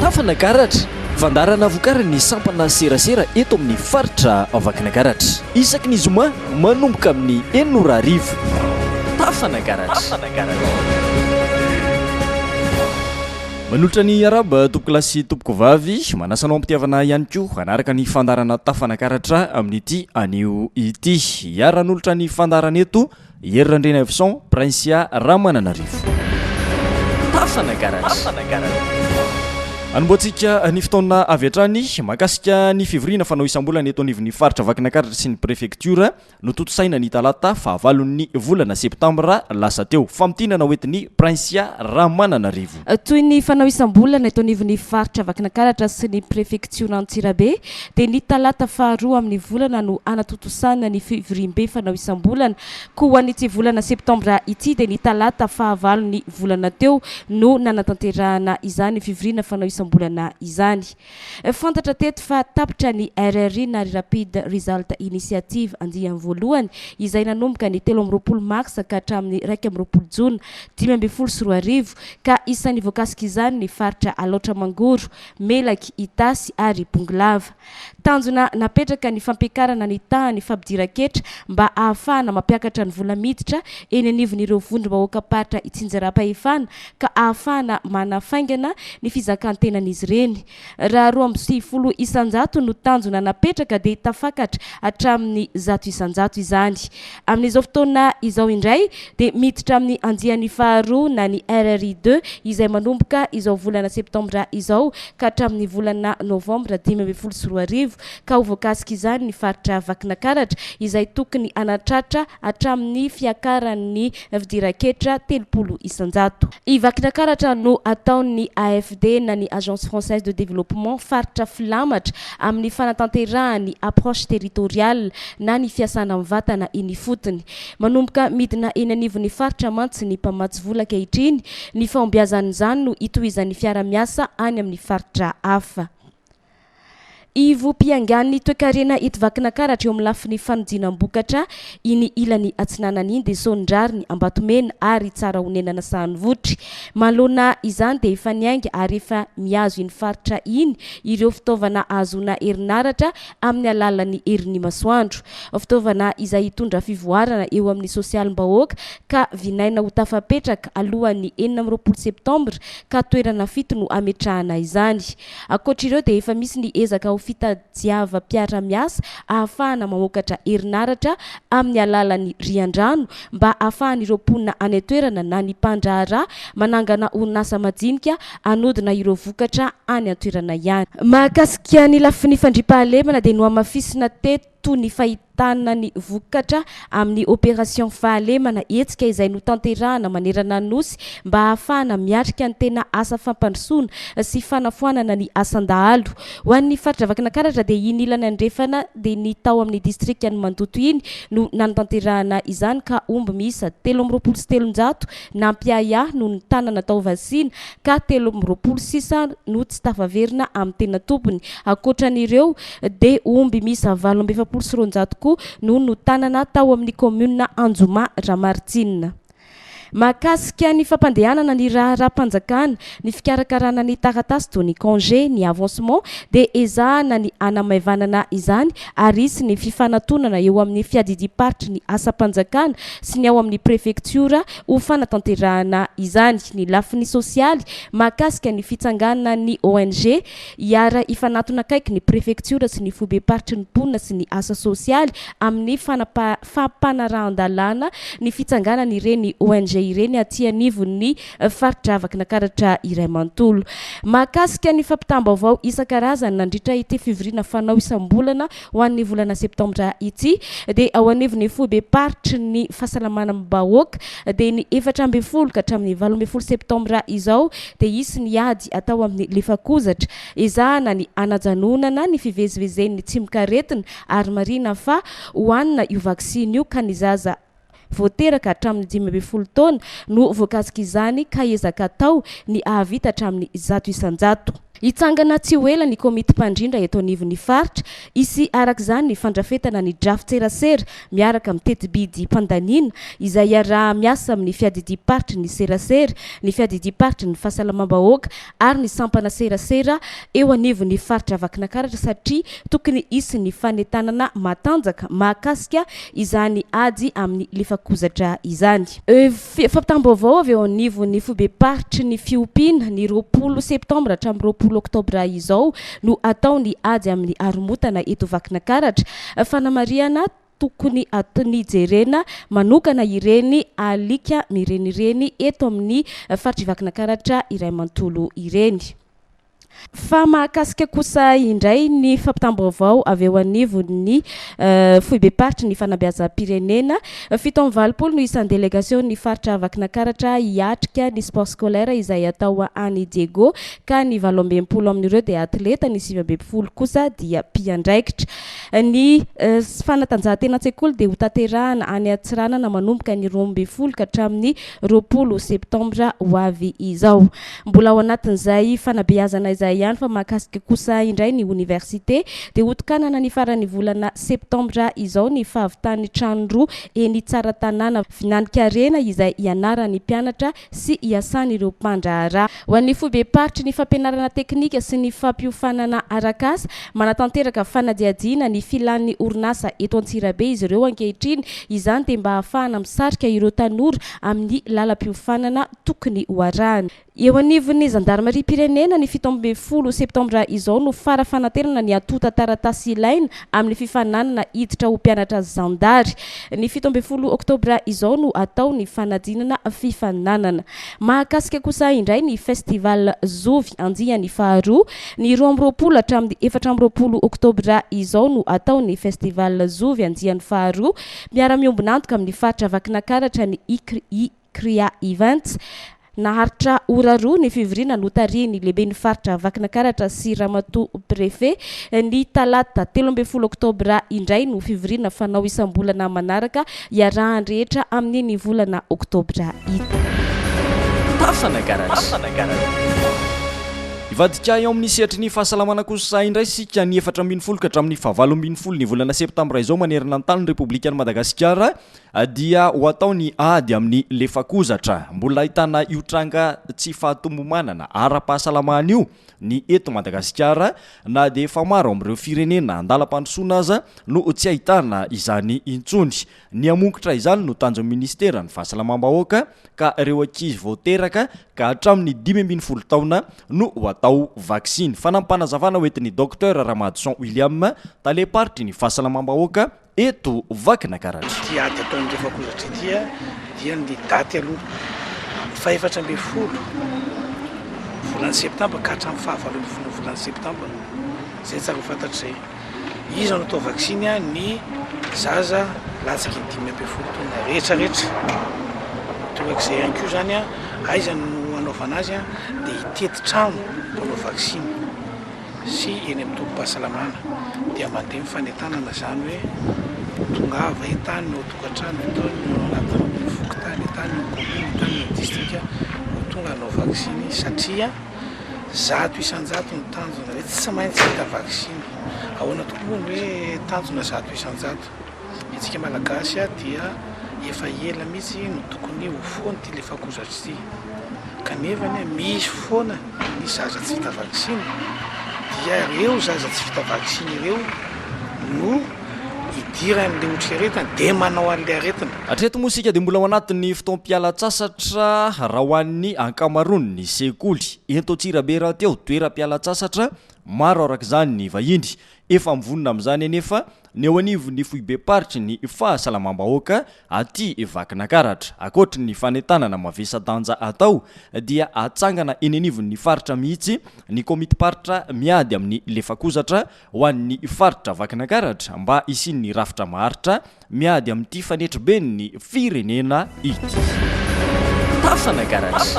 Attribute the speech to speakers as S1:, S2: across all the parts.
S1: Tafanagaratra, Fandaharana vokarin'ny sampana serasera eto amin'ny faritra Vakinagaratra. Isaky ny zoma manomboka amin'ny enina ora hariva. Tafanagaratra. Manolotra ny Arabo tompoko lahy sy tompoko vavy, manasa anao am-pitiavana ihany koa hanaraka ny fandaharana Tafanagaratra amin'ity anio ity. Hiara-hanolotra ny fandaharana eto Hery Randrianaivoson, Princia Ramananarivo. Fasana Garage. Anombohantsika ny fotoana avy hatrany mankasika ny fivoriana fanao isam-bolana eto anivon'ny faritra Vakinankaratra sy ny prefektiora notontosaina ny talata fahavalon'ny volana septambra lasa teo. Famintinana hoentin'i Princia Ramananarivo. Toy ny fanao
S2: isam-bolana eto anivon'ny faritra Vakinankaratra sy ny prefektiora Antsirabe dia ny talata faharoa amin'ny volana no hanatontosana ny fivoriambe fanao isam-bolana. Koa ho an'ity volana septambra ity dia ny talata fahavalon'ny volana teo no nanatanterahana izany fivoriana fanao isam-bolana izany. Fantatra teto fa tapitra ny RRI na Rapid Result Initiative andiany voalohany izay nanomboka ny telo amby roapolo marsa ka hatramin'ny iraika amby roapolo jona dimy ambin'ny folo sy roa arivo ka isan'ny voakasik'izany ny faritra Alaotra Mangoro, Melaky, Itasy ary Bongolava. Tanjona napetraka ny fampiakarana ny tahan'ny fampidiran-ketra mba ahafahana mampiakatra ny vola miditra eny anivon'ireo vondrom-bahoakam-paritra itsinjaram-pahefana ka ahafahana manafaingana ny fizakan-tenan'izy ireny. Raha roa amby sivifolo isan-jato no tanjona napetraka dia tafakatra hatramin'ny zato isan-jato izany. Amin'izao fotoana izao indray dia miditra amin'ny andiany faharoa na ny RRI deux izay manomboka izao volana septambra izao ka hatramin'ny volana novambra dimy ambin'ny folo sy roa arivo ka ho voakasika izany ny faritra Vakinakaratra izay tokony hanatratra hatramin'ny fiakaran'ny fidiran-ketra telopolo isan-jato i Vakinakaratra no ataon'ny AFD na ny Agence Française de Développement faritra filamatra amin'ny fanatanterahany approche territoriale na ny fiasana mivantana eny ifotony. Manomboka midina eny anivon'ny faritra mantsy ny mpamatsy vola ankehitriny, ny fahombiazan'izany no hitohizan'ny fiara-miasa any amin'ny faritra hafa. Ivom-piangan'ny toekarena eto Vakinankaratra eo amin'ny lafiny fanodinam-bokatra iny ilany atsinanana iny dia Sonindrariny, Ambatomena ary Tsarahonenana Sahanivotry. Manoloana izany dia efa niainga ary efa mihazo iny faritra iny ireo fitaovana ahazoana herinaratra amin'ny alalan'ny herin'ny masoandro. Fitaovana izay hitondra fivoarana eo amin'ny sosialim-bahoaka ka vinaina ho tafapetraka alohan'ny enina amby roapolo septambra ka toerana fito no hametrahana izany. Ankoatra ireo dia efa misy ny ezaka ho fitadiavam-piarahamiasa ahafahana mamokatra herinaratra amin'ny alalan'ny riandrano mba ahafahan'ireo mponina any an-toerana na ny mpandraharaha manangana orinasa majinika hanodina ireo vokatra any an-toerana ihany. Mahakasika ny lafiny fandriampahalemana dia nohamafisina teto ny fahitana ny vokatra amin'ny Opération Fahalemana, hetsika izay notanterahana manerana ny Nosy mba hahafahana miatrika ny tena asa fampandrosoana sy fanafoanana ny asan-dahalo. Ho an'ny faritra Vakinakaratra dia iny ilany andrefana dia ny tao amin'ny distrikan'i Mandoto iny no nanatanterahana izany ka omby miisa telo amby roapolo sy telonjato Nampiahiahy noho ny tanana tao Vasina ka telo amby roapolo sisa no tsy tafaverina amin'ny tena tompony. Ankoatra an'ireo dia omby miisa valo amby efapolo sy roanjato koa no notanana tao amin'ny kaominina Anjomà Ramaritsina. Mahakasika ny fampandehanana ny raharaham-panjakana Ny fikarakarana ny taratasy toy ny congé, ny avancement dia ezahana ny hanamaivanana izany ary hisy ny fifanatonana eo amin'ny fiadidiam-paritry ny asam-panjakana sy ny ao amin'ny prefektiora ho fanatanterahana izany. Ny lafiny sosialy mahakasika ny fitsanganan'ny ONG hiara hifanatona akaiky ny prefektiora sy ny foibem-paritry ny mponina sy ny asa sosialy amin'ny fanapa fampanarahan-dalàna ny fitsanganan'ireny ONG ireny aty anivon'ny faritra Vakinankaratra iray manontolo. Mahakasika ny fampitam-baovao isan-karazany nandritra ity fivoriana fanao isam-bolana ho an'ny volana septambra ity dia ao anivon'ny foibem-paritry ny Fahasalamanam-bahoaka dia ny efatra ambin'ny folo ka hatramin'ny valo ambin'ny folo septambra izao dia hisy ny ady atao amin'ny lefakozatra ezahana ny hanajanonana ny fivezivezen'ny tsimokaretina ary marihina fa hohanina io vaksiny io ka ny zaza vao teraka hatramin'ny dimy ambin'ny folo taona no voakasik'izany ka ezaka atao ny hahavita hatramin'ny zato isan-jato. Hitsangana tsy ho ela ny komity mpandrindra eto anivon'ny faritra, hisy araka izany ny fandrafetana ny drafi-tserasera miaraka amin'ny teti-bidim-pandaniana izay hiaraha-miasa amin'ny fiadidiam-paritry ny serasera, ny fiadidiam-paritry ny fahasalamam-bahoaka ary ny sampana serasera eo anivon'ny faritra Vakinakaratra satria tokony hisy ny fanentanana matanjaka mahakasika izany ady amin'ny lefakozatra izany. Fampitam-baovao avy eo anivon'ny foibem-paritry ny fiompiana, ny roapolo septambra hatramin'ny roapolo oktobra izao no hatao ny ady amin'ny haromotana eto Vakinakaratra. Fanamarihana, tokony hatony jerena manokana ireny alika mirenireny eto amin'ny faritr'i Vakinakaratra iray manontolo ireny. Fa mahakasika kosa indray ny fampitam-baovao avy eo anivon'ny Foibem-paritry ny Fanabeazam-pirenena, fito amby valopolo no isan'ny delegasion'ny faritra Vakinakaratra hiatrika ny Sport Scolaire izay atao any Diego ka ny valo amby enimpolo amin'ireo dia atleta, ny sivy amby enimpolo kosa dia mpiandraikitra. Ny fanatanjahantena an-tsekoly dia hotanterahana any Antsiranana manomboka ny roa ambin'ny folo ka hatramin'ny roapolo septambra ho avy izao. Mbola ao anatin'izay fanabeazana izay ihany fa mahakasika kosa indray ny oniversite dia hotokanana ny faran'ny volana septambra izao ny fahavitan'ny trano roa eny Tsaratanàna vinan'ny karena izay hianaran'ny mpianatra sy iasan'ireo mpandraharaha. Ho an'ny foibem-paritry ny fampianarana teknika sy ny fampiofanana arak'asa, manatanteraka fanadihadiana ny filàn'ny orinasa eto Antsirabe izy ireo ankehitriny. Izany dia mba hahafahana misarika ireo tanora amin'ny lalam-piofanana tokony ho arahany. Eo anivon'ny zandarimariam-pirenena, ny fito ambin'ny folo septambra izao no fara-fanatenana ny antontan-taratasy ilaina amin'ny fifaninanana hiditra ho mpianatra zandary. Ny fito ambin'ny folo oktobra izao no atao ny fanadinana fifaninanana. Mahakasika kosa indray ny Festival Zovy andiany faharoa. Ny roa amby roapolo hatramin'ny efatra amby roapolo oktobra izao no atao ny Festival Zovy andiany faharoa. Miara-miombon'antoka amin'ny faritra Vakinakaratra ny ICRI. Kriha Events. Naharitra ora roa ny fivoriana notarihin'ny Lehiben'ny Faritra Vakinakaratra sy Ramatoa Préfet. Ny talata telo ambin'ny folo oktobra indray no fivoriana fanao isam-bolana manaraka iarahan'ny rehetra amin'iny volana oktobra iny. Tafana Garage.
S1: Hivadika eo amin'ny sehatry ny fahasalamana kosa indray isika ny efatra ambin'ny folo ka hatramin'ny fahavalo ambin'ny folo ny volana septambra izao manerana ny tanin'ny Repoblikan'i Madagasikara Dia ho atao ny ady amin'ny lefakozatra. Mbola ahitana io tranga tsy fahatomomànana ara-pahasalamana io ny eto Madagasikara na dia efa maro amin'ireo firenena an-dalam-pandrosoana aza no tsy ahitana izany intsony. Ny hamongotra izany no tanjon'ny Ministeran'ny Fahasalamam-bahoaka ka ireo ankizy vao teraka ka hatramin'ny dimy ambin'ny folo taona no ho atao vaksiny, fanampim-panazavana hoentin'i Docteur Ramadison William, Talem-paritry ny Fahasalamam-bahoaka eto Vakinakaratra. Ity ady ataon'ny
S3: Rivakozatra ity dia ny daty aloha amin'ny fahefatra ambin'ny folo volana septambra ka hatramin'ny fahavalo ambin'ny folo volana septambra izay tsara ho fantatra izay izy no atao vaksiny ny zaza latsaka ny dimy ambin'ny folo taona rehetra rehetra torak'izay ihany koa izany a aiza no hanaovana azy a dia hitety trano mpanao vaksiny sy eny amin'ny tobim-pahasalamana dia mandeha ny fanentanana izany hoe tongava eto any ny ao an-tokantrano, eto any ny ao anatin'ny fokontany, eto any ny kaominina, eto any ny distrika vao tonga hanao vaksiny satria zato isan-jato ny tanjona hoe tsy maintsy hita vaksiny. Ahoana tokoa moa ny hoe tanjona zato isan-jato? Isika Malagasy dia efa ela mihitsy no tokony ho foana ity lefakozatra ity, kanefa anie misy foana ny zaza tsy vita vaksiny, dia ireo zaza tsy vita vaksiny ireo no idiran'ilay otrikaretina dia manao an'ilay aretina. Hatreto moa isika dia mbola
S1: ao anatin'ny fotoam-pialan-tsasatra raha ho an'ny ankamaroan'ny sekoly. Ento Antsirabe rahateo, toeram-pialan-tsasatra maro araka izany ny vahiny. Efa mivonona amin'izany anefa ny eo anivon'ny foibem-paritry ny fahasalamam-bahoaka aty Vakinakaratra. Ankoatry ny fanentanana mavesa-danja atao dia hatsangana eny anivon'ny faritra mihitsy ny komitim-paritra miady amin'ny lefakozatra ho an'ny faritra Vakinakaratra mba hisian'ny rafitra maharitra Miady amin'ity fanetriben'ny firenena ity. Tafana Garage.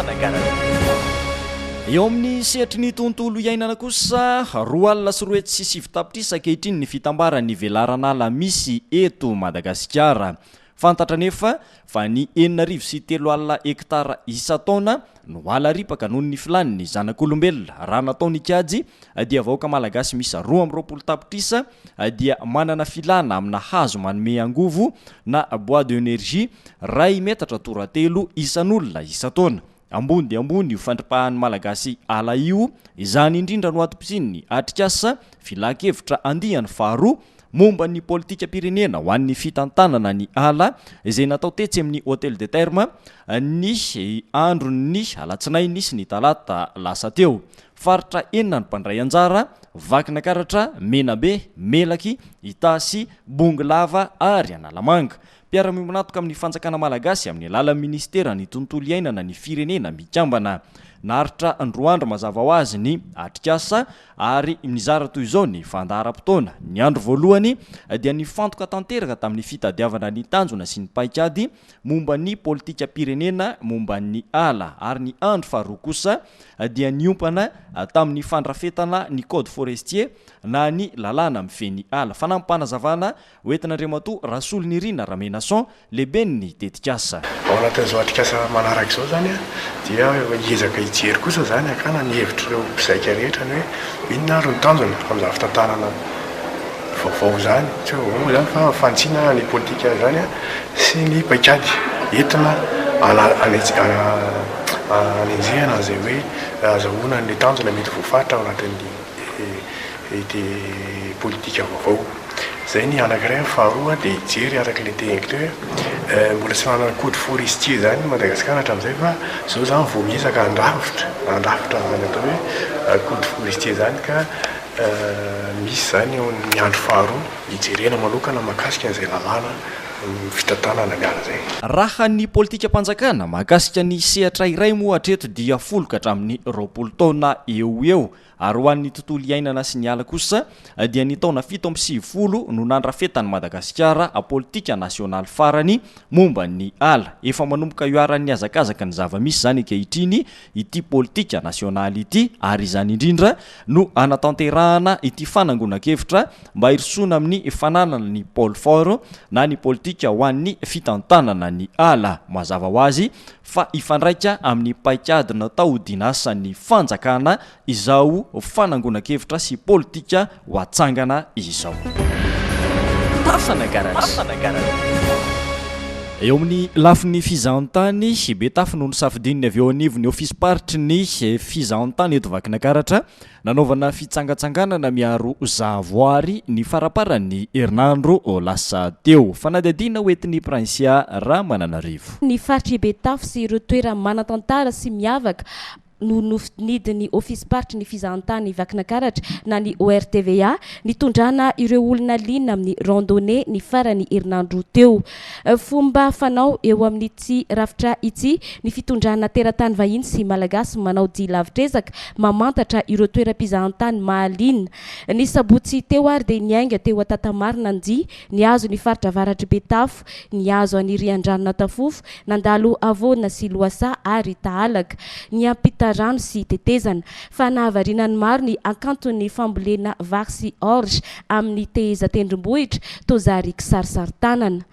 S1: Eo amin'ny sehatry ny tontolo iainana kosa, roa alina sy roa hetsy sy sivy tapitrisa ankehitriny ny fitambaran'ny velaran'ala misy eto Madagasikara. Fantatra anefa fa ny enina arivo sy telo alina hektara isan-taona no ala ripaka noho ny filan'ny zanak'olombelona. Raha natao ny kajy dia vahoaka malagasy miisa roa amby roapolo tapitrisa dia manana filana amina hazo manome angovo na bois de energie ray metatra toratelo isan'olona isan-taona. Ambony dia ambony io fandripahan'ny Malagasy ala io, izany indrindra no atom-pisian'ny atrikasa filan-kevitra andiany faharoa momba ny politikam-pirenena ho an'ny fitantanana ny ala izay natao tetsy amin'ny Hôtel de Terme ny andron'ny alatsinainy sy ny talata lasa teo. Faritra enina ny mpandray anjara, Vakinakaratra, Menabe, Melaky, Itasy, Bongolava ary Analamanga. Mpiara-miombon'antoka amin'ny fanjakana malagasy amin'ny alalan'ny minisiteran'ny Tontolo iainana ny Firenena Mikambana. Naharitra roa andro mazava ho azy ny atrikasa ary nizara toy izao ny fandaharam-potoana. Ny andro voalohany dia nifantoka tanteraka tamin'ny fitadiavana ny tanjona sy ny paikady, momba ny politikam-pirenena momba ny ala, ary ny andry faharoa kosa dia niompana tamin'ny fandrafetana ny Code Forestier na ny lalàna mifehy ny ala. Fanampim-panazavana ho entin'Andriamatoa Rasolonirina Ramenason, lehiben'ny tetikasa. Ao anatin'izao atrikasa
S4: manaraka izao izany dia hiezaka hijery kosa izany hakana ny hevitr'ireo mpizaika rehetra ny hoe inona ary no tanjona amin'izany fitantanana. vaovao izany, tsy hoe vaovao izany fa fantsina ny politika izany sy ny paikady entina hanenjehana an'izay hoe hazahoana an'ilay tanjona mety voafaritra ao anatin'ity politika vaovao. Izay ny anankiray. Ny faharoa dia hijery araka ilay teniko teo hoe mbola tsy nanana code forestier izany i Madagasikara hatramin'izay fa izao izany vao miezaka handrafitra, handrafitra izany atao hoe code forestier izany ka. Misy izany eo amin'ny andro faharoa hijerena manokana mahakasika an'izay lalàna fitantanana ny ala izay. Raha ny
S1: politikam-panjakana mahakasika ny sehatra iray moa hatreto dia folo ka hatramin'ny roapolo taona eo ho eo ary ho an'ny tontolo iainana sy ny ala kosa dia ny taona fito amby sivifolo no nandrafetan'i Madagasikara politika nasionaly farany momba ny ala. Efa manomboka iharan'ny hazakazaka ny zava-misy izany ankehitriny ity politika nasionaly ity ary izany indrindra no hanatanterahana ity fanangonan-kevitra mba hirosoana amin'ny fananana ny pole fort na ny politika ho an'ny fitantanana ny ala. Mazava ho azy fa hifandraika amin'ny paikady natao ho dinasan'ny fanjakana izao fanangonan-kevitra sy politika ho atsangana izao. Fasana Garage. Eo amin'ny lafiny fizahantany, Betafo no nosafidian'ny avy eo anivon'ny ofisim-paritry ny fizahantany eto Vakinakaratra nanaovana fitsangatsanganana miaro zahavoary ny faraparan'ny herinandro lasa teo. Fanadihadiana ho entin'i Princia Ramananarivo. ny faritr'i
S2: Betafo sy ireo toerana manan-tantara sy miavaka no nofidinidin'ny ofisim-paritry ny fizahantany Vakinakaratra na ny ORTVA nitondrana ireo olona liana amin'ny randonnée ny faran'ny herinandro teo. Fomba fanao eo amin'ity rafitra ity ny fitondrana teratany vahiny sy Malagasy manao dia lavitr'ezaka mamantatra ireo toeram-pizahantany mahaliana. Ny sabotsy teo ary dia niainga teo Antantamarina ny dia Nihazo ny faritra avaratr'i Betafo, nihazo an'i Riandrano-Natafofo, nandalo havoana sy lohasaha ary tahalaka, niampita rano sy tetezana. Fa nahavariana ny maro ny hakanton'ny fambolena vary sy orge amin'ny tehezan-tendrombohitra toa zary kisarisarin-tanana.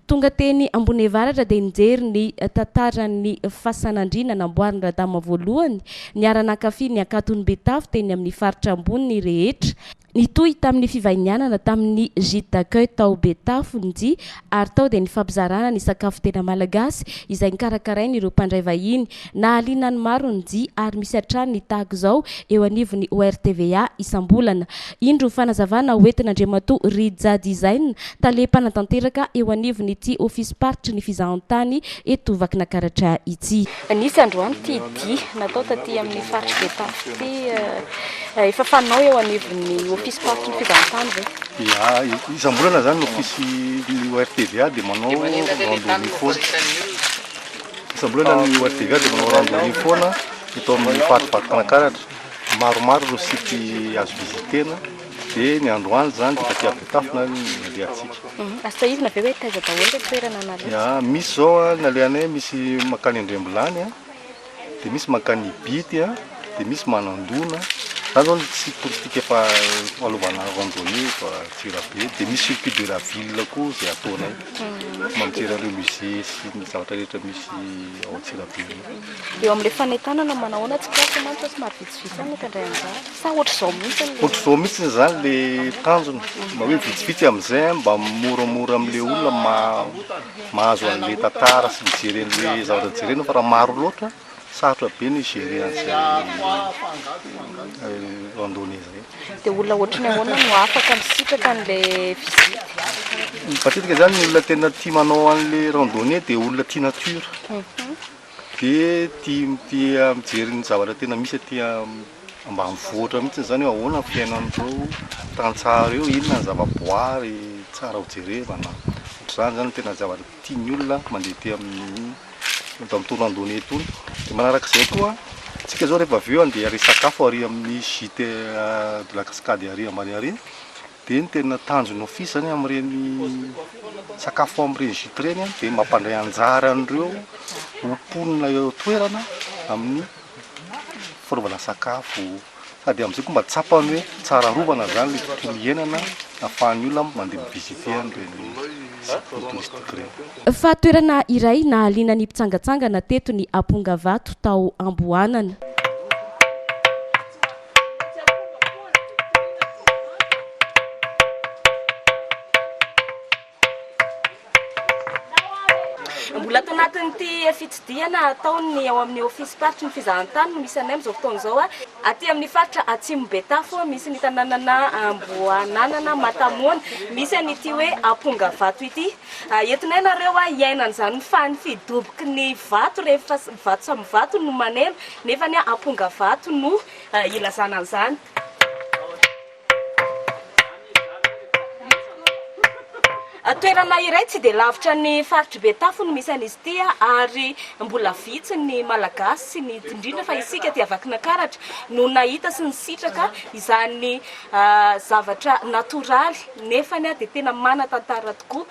S2: Tonga teny Amboniavaratra dia nijery ny tantaran'ny fasan'andriana namboarin'i Radama voalohany, niara-nankafy ny hakanton'i Betafo teny amin'ny faritra ambony rehetra, Nitohy tamin'ny fivahinianana tamin'ny Gite d'accueil tao Betafo ny dia ary tao dia nifampizarana ny sakafo tena malagasy izay nokarakarain'ireo mpandray vahiny. Nahaliana ny maro ny dia ary misy hatrany ny tahaka izao eo anivon'ny ORTVA isam-bolana. Indro fanazavana hoentin'Andriamatoa Rija Dizaina, tale mpanatanteraka eo anivon'ity ofisim-paritry ny fizahantany eto Vakinakaratra ity. Nisy androany ity dihy natao taty amin'ny faritry Betafo ity efa fanao eo anivon'ny ofisy faritry ny fizahan-tany ve? Ia,
S5: isam-bolana izany ny ofisy ny ORTVA dia manao randonnée foana. Isam-bolana ny ORTVA dia manao randonnée foana eto amin'ny faritry Vato Mpanankaratra. Maromaro ireo site azo visiter-na Dia ny androany izany dia taty Betafo no nalehantsika. Azo sahizina ve
S2: hoe taiza daholo ilay toerana nalehantsika? Ia, misy izao an,
S5: ny alehanay misy mankany Andriambilany an, dia misy mankany Ibity an, dia misy Manandona, izany izao ny site touristique efa alovana randonnée eto Antsirabe, dia misy circuit de la ville koa izay ataonay, mba mijery an'ireo musée sy ny zavatra rehetra misy ao Antsirabe eo. Eo amin'ilay
S2: fanentanana manahoana tsikaritra mantsy fa somary vitsivitsy. Ohatr'izao mihitsiny izany
S5: le tanjona, mba hoe vitsivitsy amin'izay mba moramora amin'le olona mahazo an'le tantara sy mijery an'le zavatra jerena fa raha maro loatra sarotra be ny hi-gérer an'izay randonnée zay. De olona ohatran'ny
S2: ahoana no afaka misitraka an'le visite? Matetika
S5: zany ny olona tena tia manao an'le randonnée de olona tia nature. Be tia tia mijery ny zavatra tena misy aty ambanivohitra mihitsy izany hoe ahoana ny fiainan'ireo tantsaha ireo, inona ny zavaboary tsara ho jerevana, ohatr'izany izany no tena zavatra tian'ny olona mandeha aty amin'ny eto amin'ny toerana ambony etoana. Dia manarak'izay koa, isika izao rehefa avy eo andeha ary hisakafo ary amin'ny gite de la cascade ary ambany ary, Dia ny tena tanjon'ny Office zany amin'ireny sakafo amin'ireny gîtes ireny dia mampandray anjara an'ireo ho mponina eo an-toerana amin'ny fanaovana sakafo sady amin'izay koa mba tsapany hoe tsara arovana zany ilay tontolo iainana ahafahan'ny olona mandeha mi-visiter an'ireny sites touristiques ireny. Fa toerana
S2: iray nahaliana ny mpitsangatsangana teto ny Ampongavato tao Amboanana. Mbola ato anatin'ity fitsidihana ataon'ny ao amin'ny ofisim-paritry ny fizahantany no misy anay amin'izao fotoana izao. Aty amin'ny faritra Atsimo Betafo, misy ny tanànana Amboananana, Matamoana, misy an'ity hoe Ampongabato ity. Entinay nareo a hiaina an'izany fa ny fidoboky ny vato rehetra vato samy vato no maneno nefa anie amponga vato no ilazana an'izany. Toerana iray tsy dia lavitra ny faritr'i Betafo no misy an'izy ity ary mbola vitsy ny Malagasy sy ny indrindra fa isika aty Vakinankaratra no nahita sy nisitraka izany zavatra natoraly. Nefany aho dia tena manan-tantara tokoa.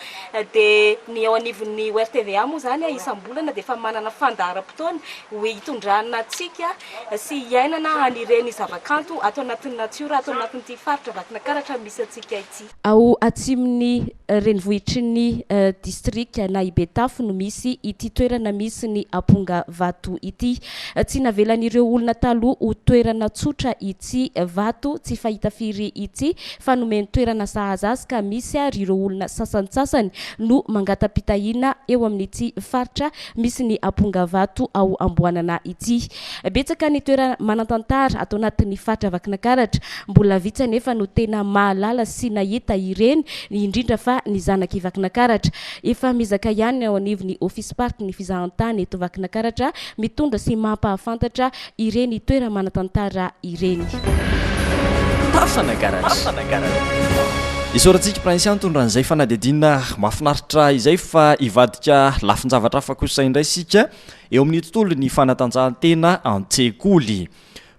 S2: Dia ny eo anivon'ny ORTVA moa izany, isam-bolana dia efa manana fandaharam-potoana hitondrana antsika sy hiainana an'ireny zavakanto ato anatin'ny natiora ato anatin'ity faritra Vakinankaratra misy antsika ity. Ao atsimon'ny renivohitry ny distrika na i Betafo no misy ity toerana misy ny aponga vato ity. Tsy navelan'ireo olona taloha ho toerana tsotra i. ity vato tsy fahita firy ity fa nomeny toerana sahaza azy ka misy ary ireo olona sasantsasany no mangata-pitahiana eo amin'ity faritra misy ny ampongabato ao Amboanana ity. Betsaka ny toerana manan-tantara ato anatin'ny faritra Vakinakaratra, mbola vitsy anefa no tena mahalala sy nahita ireny indrindra fa ny zanak'i Vakinakaratra. Efa miezaka ihany ny ao anivon'ny ofisim-paritry ny fizahantany eto Vakinakaratra mitondra sy mampahafantatra ireny toera-manatantara ireny. Tafana Garage.
S1: Isaorantsika Prince Antony raha izay fanadihadiana mahafinaritra izay fa hivadika lafin-javatra hafa kosa indray isika eo amin'ny tontolon'ny fanatanjahantena an-tsekoly.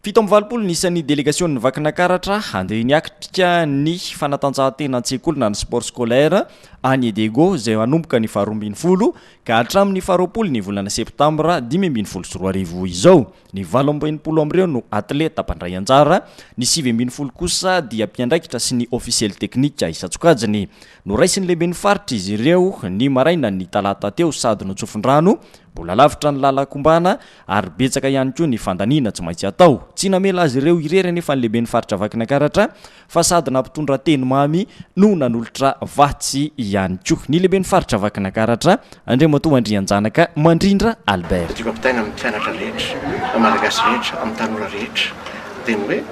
S1: Fito amby valopolo ny isan'ny delegasion'ny Vakinakaratra handeha niatrika ny fanatanjahantena an-tsekoly na ny sport scolaire any Edego izay hanomboka ny faharoa ambin'ny folo ka hatramin'ny faharoapolo ny volana septambra dimy ambin'ny folo sy roa arivo izao, ny valo amby enimpolo amin'ireo no atleta mpandray anjara, ny sivy ambin'ny folo kosa dia mpiandraikitra sy ny ofisiely teknika isan-tsokajiny. Noraisin'ny lehiben'ny faritra izy ireo ny marainan'ny talata teo sady notsofin-drano, mbola lavitra ny lalan-kombana ary betsaka ihany koa ny fandaniana tsy maintsy atao. Tsy namela azy ireo irery anefa ny lehiben'ny faritra Vakinankaratra fa sady nampitondra teny mamy no nanolotra vatsy ihany koa ny lehiben'ny faritra Vakinakaratra, Andriamatoa Andrianjanaka Mandrindra Albert. Tiako ampitaina amin'ny mpianatra
S4: rehetra, amin'ny Malagasy rehetra, amin'ny tanora rehetra dia ny hoe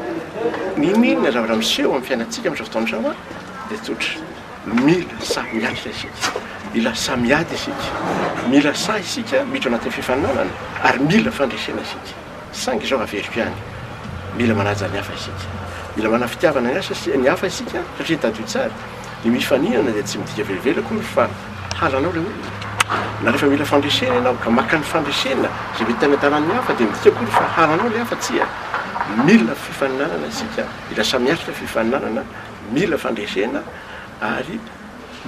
S4: n'inon'inona zavatra miseho amin'ny fiainantsika amin'izao fotoana izao dia tsotra, mila sahy miatrika isika, mila sahy miady isika, mila sahy isika miditra ao anatin'ny fifaninanana ary mila fandresena isika. Saingy izao averiko ihany, mila manaja ny hafa isika. Mila manana fitiavana ny asa sy ny hafa isika, satria tadidio tsara, ny mifaninana dia tsy midika velively akory fa halanao ilay olona. Na rehefa mila fandresena ianao ka maka ny fandresena izay mety hanentanan'ny hafa dia midika akory fa halanao ilay hafa, tsia. Mila fifaninanana isika, mila samy hatrika fifaninanana, mila fandresena ary.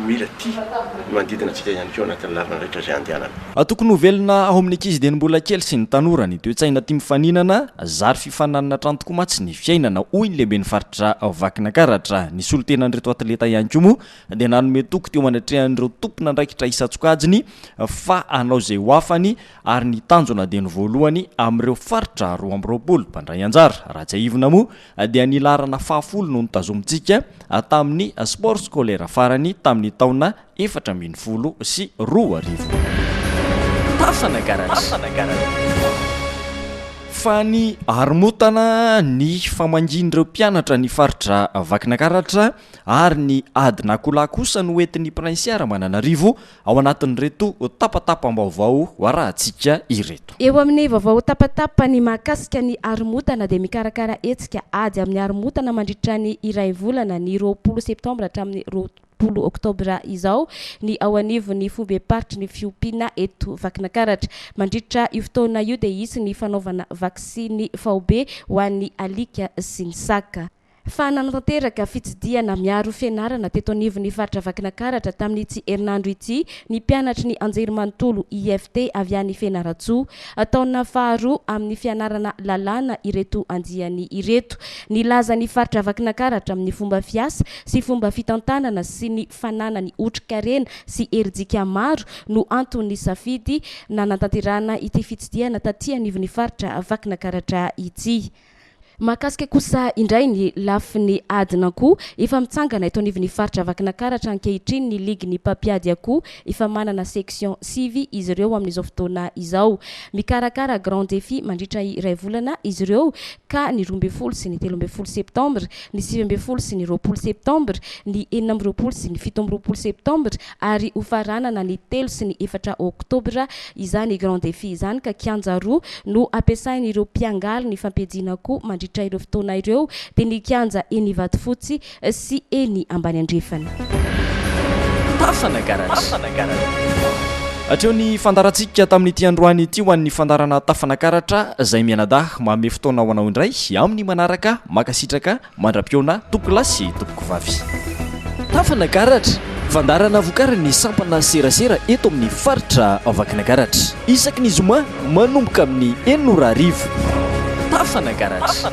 S4: mila tia ny manodidina antsika ihany koa anatin'ny lalana rehetra izay andehanana. Tokony ho velona
S1: ao amin'ny ankizy dieny mbola kely sy ny tanora ny toe-tsaina tia mifaninana, zary fifaninanana hatrany tokoa mantsy ny fiainana, hoy ny lehiben'ny faritra Vakinankaratra. Ny solontenan'ireto atleta ihany koa moa dia nanome toky teo anatrehan'ireo tompon'andraikitra isan-tsokajiny fa hanao izay ho afany ary ny tanjona dia ny voalohany amin'ireo faritra roa amby roapolo mpandray anjara. Raha tsiahivina moa Andian'ilaharana fahafolo no notazomintsika tamin'ny Sport Scolaire farany tamin'ny taona efatra ambin'ny folo sy roa arivo. Fasana Garage. Faniharomotana ny famangian'ireo mpianatra ny faritra Vakinakaratra ary ny ady na kola kosa no entin'ny Prainsià Ramananarivo ao anatin'ireto tapatapam-baovao arahantsika ireto. Eo amin'ny vaovao
S2: tapatapa ny mahakasika ny haromontana dia mikarakara hetsika ady amin'ny haromontana mandritra ny iray volana, ny roapolo septambra hatramin'ny roapolo oktobra izao, ny ao anivon'ny foibem-paritry ny fiompiana eto Vakinakaratra. Mandritra io fotoana io dia hisy ny fanaovana vaksiny faobe ho an'ny alika sy ny saka. fa nanatanteraka fitsidihana miaro fianarana teto anivon'ny faritra Vakinankaratra tamin'ity herinandro ity ny mpianatry ny Anjerimanontolo IFT avy any Fianarantsoa. Taona faharoa amin'ny fianarana lalàna ireto andiany ireto. Nilaza ny faritra Vakinankaratra amin'ny fomba fiasa sy fomba fitantanana sy ny fananany otrikarena sy herijika maro no anton'ny safidy nanatanterahana ity fitsidihana taty anivon'ny faritra Vakinankaratra ity. Mahakasika kosa indray ny lafiny adin'akoho, efa mitsangana eto anivon'ny faritra Vakinankaratra ankehitriny ny ligin'ny mpampiady akoho, efa manana section sivy izy ireo amin'izao fotoana izao. Mikarakara grand défi mandritra iray volana izy ireo ka ny roa ambin'ny folo sy ny telo ambin'ny folo septambra, ny sivy ambin'ny folo sy ny roapolo septambra, ny enina amby roapolo sy ny fito amby roapolo septambra, ary ho faranana ny telo sy ny efatra oktobra izany grand défi izany ka kianja roa no hampiasain'ireo mpiangaly ny fampiadiana koa mandritra ireo fotoana ireo dia ny kianja eny Ivatofotsy sy eny Ambaniandrefana.
S1: Tafana Garage. Hatreo ny fandaharantsika tamin'ity androany ity ho an'ny fandaharana Tafana Karatra izay mianadahy manome fotoana ho anao indray amin'ny manaraka. Mankasitraka. Mandra-pihaona tompokolahy sy tompokovavy. Tafan'Agaratra, Fandaharana vokarin'ny sampana serasera eto amin'ny faritra Vakinankaratra. Isaky ny zoma manomboka amin'ny enina ora hariva. Tafan'Agaratra.